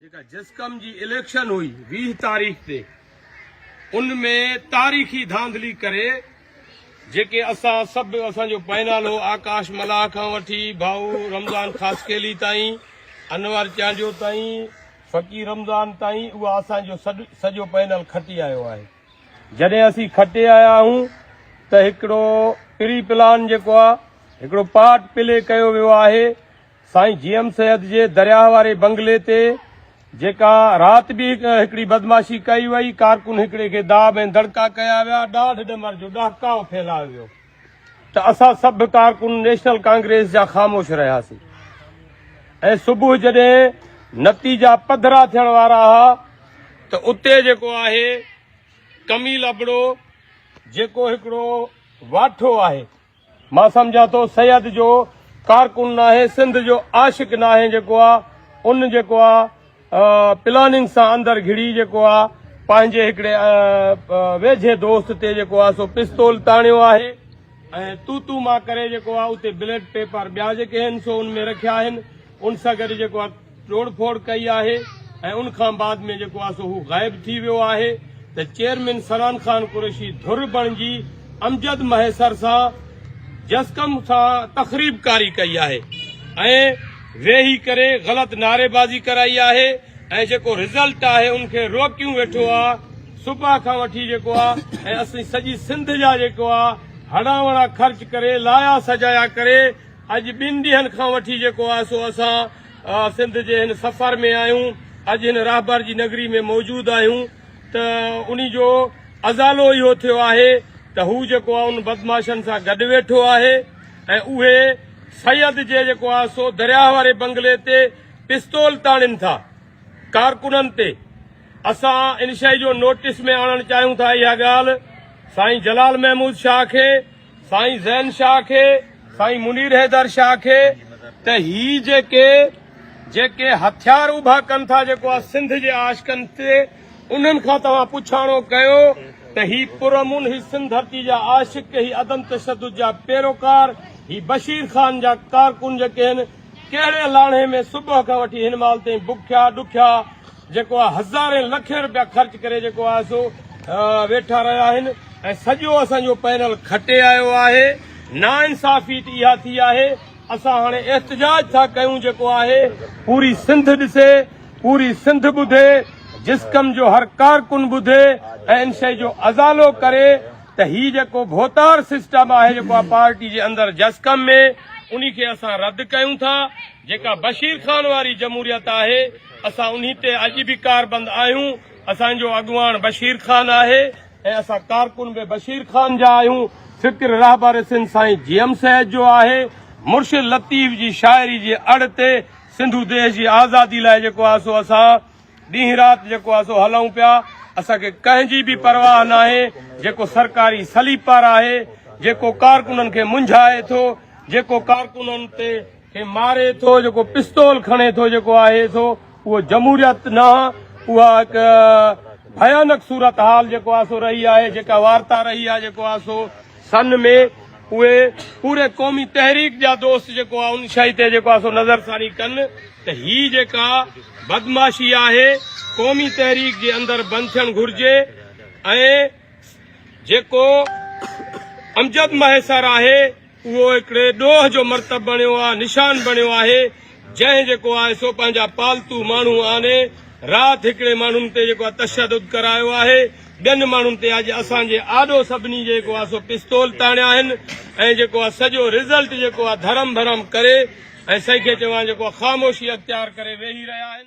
جيڪا جسقم جي اليڪشن هئي ويهه تاريخ تي ان ۾ تاريخي ڌانڌلي ڪري جيڪي اسان سڀ اسان جو پائنال هو آڪاش ملاح کان وٺي ڀائو رمضان خاصخيلي تائين انور چانڊيو تائين فقير رمضان تائين اها اسان جو سڄو پائنال کٽي آيو آهي جڏهن اسين کٽي آيا آهيون ته هڪڙو پري پلان جيڪو آهي هڪڙو پارٽ پلي ڪيو ويو آهي سائين جي ايم سيد جي درياهه واري بنگلي تي جيڪا رات به هڪڙي بدمعاشي ڪئي وئي، ڪارڪن هڪڙي کي داٻ ۽ دڙڪا ڪيا ويا، ڏاڍ ڏمر جو ڏهڪاء ڦهلايو ويو ته اسان سڀ ڪارڪن نيشنل ڪانگريس جا خاموش رهياسين ۽ صبح جڏهن نتيجا پڌرا ٿيڻ وارا ها ته اتي جيڪو آهي ڪميل ابڙو جيڪو هڪڙو واٺو آهي، مان سمجهان ٿو سيد جو ڪارڪن ناهي سنڌ جو عاشق ناهي جيڪو آ ان جيڪو آ پلاننگ سان اندر گهڙي جيڪو آ پنهنجي هڪڙي ويجهي دوست تي جيڪو آ سو پستول تاڻيو آهي ۽ تو تو مان ڪري جيڪو آ اتي بليٽ پيپر ٻيا جيڪي هن سو ان ۾ رکيا آهن ان سان گڏ جيڪو آ ٽوڙ ڦوڙ ڪئي آهي ۽ ان کان بعد ۾ جيڪو آهي سو هو غائب ٿي ويو آهي ته چيئرمين سنان خان قريشي ڌر بڻجي امجد مهيسر سان جسقم سان تخريب ڪاري ڪئي آهي ۽ ويهي ڪري غلط نعري بازي ڪرائي آهي ۽ جيڪو رزلٽ آهي ان کي روڪيون ويٺو آهي صبح کان وٺي جيڪو آهي ۽ اسين سڄي سنڌ جا جيڪو آهي هڙان وڙان خرچ ڪري لايا سجايا ڪري اڄ ٻن ڏينهن کان وٺي جيڪو آهي سو اسان سنڌ جي هن سفر ۾ آهيون اڄ هن راهبر جي نگري ۾ موجود آهيون ته انهي جو ازالو اهو ٿيو آهي ته هو جيڪو آهي ان بدمعاشن سان گڏ ويٺو آهي ۽ اهي سيد جي جيڪو آهي سو درياهه واري بنگلي تي پستول تاڻين ٿا ڪارڪنن تي اسان ان شئي جو نوٽس ۾ آڻڻ چاهيون ٿا اها ڳالهه سائين جلال محمود شاهه کي سائين زين شاهه کي سائين منير حيدر شاهه کي ته هي جيڪي جيڪي هٿيار اڀا ڪن ٿا جيڪو آ سنڌ جي عاشقن تي انهن کان توهان پڇاڻو ڪيو ته هي پرامن هي سنڌ ڌرتي جا عاشق هي عدم تشدد جا پيروڪار هي بشير خان جا ڪارڪن جيڪي هن ڪهڙي لاڻهي ۾ صبح کان وٺي هن مال تائين بکيا ڏکيا جيڪو آ هزارين لکين روپيا خرچ ڪري جيڪو آ سو ويٺا رهيا آهن ۽ سڄو اسان جو پينل کٽي آيو آهي ناانصافي ته اها ٿي آهي اسان هاڻي احتجاج ٿا ڪيون جيڪو آهي پوري سنڌ ڏسي پوري سنڌ ٻڌي جسقم جو هر ڪارڪن ٻڌي ۽ ان شئي جو ازالو ڪري ته هي جيڪو ڀوتار سسٽم آهي جيڪو آ پارٽي جي اندر جسقم ۾ انهي کي اسان رد ڪيون ٿا جيڪا بشير خان واري جمهوريت آهي اسان انهي تي اڄ به ڪاربند آهيون اسان جو اڳواڻ بشير خان آهي ۽ اسان ڪارڪن به بشير خان جا آهيون فڪر رهبر سنڌ سائين جي ايم سيد جو آهي مرشد لطيف جي شاعري جي اڙ تي سنڌو ديش جي آزادي لاء جيڪو آهي سو اسان ڏينهن رات جيڪو آهي سو هلون پيا اسان کي ڪنهن جي به پرواهه ناهي جيڪو سرڪاري سليپر آهي جيڪو ڪارڪنن کي منجهائي ٿو جيڪو ڪارڪنن تي کي ماري ٿو جيڪو پستول کڻي ٿو جيڪو آهي سو اهو جمهوريت نه اها هڪ ڀيانڪ صورتحال جيڪو آهي سو رهي آهي جيڪا وارتا رهي آهي جيڪو آهي سو سن ۾ اهي پوري قومي تحريڪ جا دوست جيڪو آهي ان شئي تي جيڪو آهي سو نظر ثاني ڪن ته هي جيڪا بدمعاشي آهي قومي تحريڪ جي اندر بند ٿيڻ گهرجي ۽ جيڪو امجد مهيسر آهي اهو هڪڙي ڏوهه جو مرتب بڻيو آ، نشان بڻيو آهي، جنهن جيڪو آهي سو پنهنجا پالتو ماڻهو آڻي رات هڪڙي ماڻهن تي جيڪو آهي تشدد ڪرايو آهي، ٻين ماڻهن تي اڄ اسان جي آڏو سڀني جيڪو آهي سو پستول تاڻيا آهن ۽ جيڪو آهي سڄو رزلٽ جيڪو آهي ڌرم ڀرم ڪري ۽ سائين کي چوان جيڪو آهي خاموشي اختيار ڪري ويهي رهيا آهن.